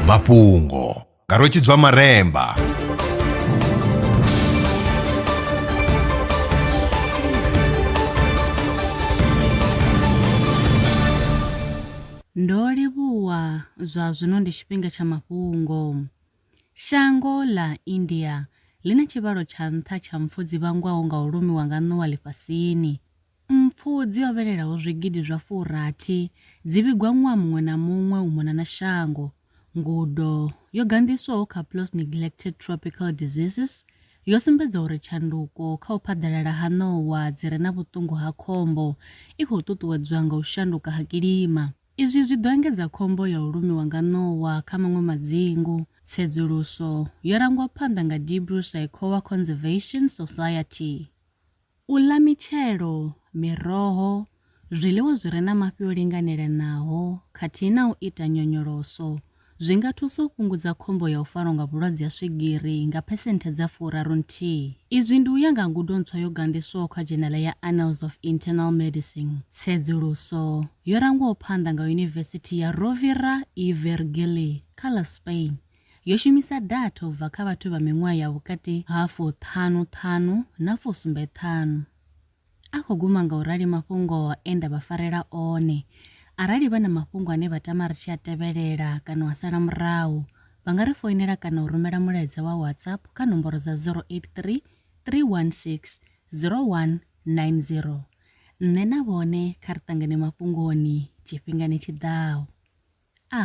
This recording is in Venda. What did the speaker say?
mafhungo nga rwetshidzwa maremba Ndo livhuwa zwa zwino ndi tshifhinga tsha mafhungo. Shango ḽa India ḽi na tshivhalo tsha nṱha tsha mpfu dzi vhangwaho nga u lumiwa nga ṋowa ḽifhasini. Mpfu dzi hovhelelaho zwigidi zwa furathi dzi vhigwa ṅwaha muṅwe na muṅwe u mona na shango. Ngudo yo ganḓiswaho kha PLOS Neglected Tropical Diseases yo sumbedza uri tshanduko kha u phaḓalala ha ṋowa dzi re na vhuṱungu ha khombo i khou ṱuṱuwedzwa nga u shanduka ha kilima. Izwi zwi ḓo engedza khombo ya u lumiwa nga ṋowa kha maṅwe madzingu. Tsedzuluso yo rangwa phanḓa nga Dibru Saikhowa Conservation Society. U ḽa mitshelo, miroho, zwiḽiwa zwi re na mafhi o linganelanaho khathihi na u ita nyonyoloso zwi nga thusa u fhungudza khombo ya u farwa nga vhulwadze ha swigiri nga phesenthe dza furaru nthihi. Izwi ndi u ya nga ngudo ntswa yo ganḓiswaho kha dzhenala ya Annals of Internal Medicine, tsedzuluso yo rangwaho phanḓa nga Yunivesithi ya Rovira i Virgili kha ḽa Spain. yo shumisa datha u bva kha vhathu vha miṅwaha ya vhukati ha fuṱhanu ṱhanu na fusumbe ṱhanu. A khou guma nga u rali mafhungo e nda vha farela one. Arali vha na mafhungo ane vha tama ri tshi a tevhelela kana wa sala murahu, vha nga ri foinela kana u rumela mulaedza wa WhatsApp kha nomboro dza 083 316 0190. Nṋe na vhone kha ri ṱangane mafhungoni tshifhingani tshi ḓaho. A.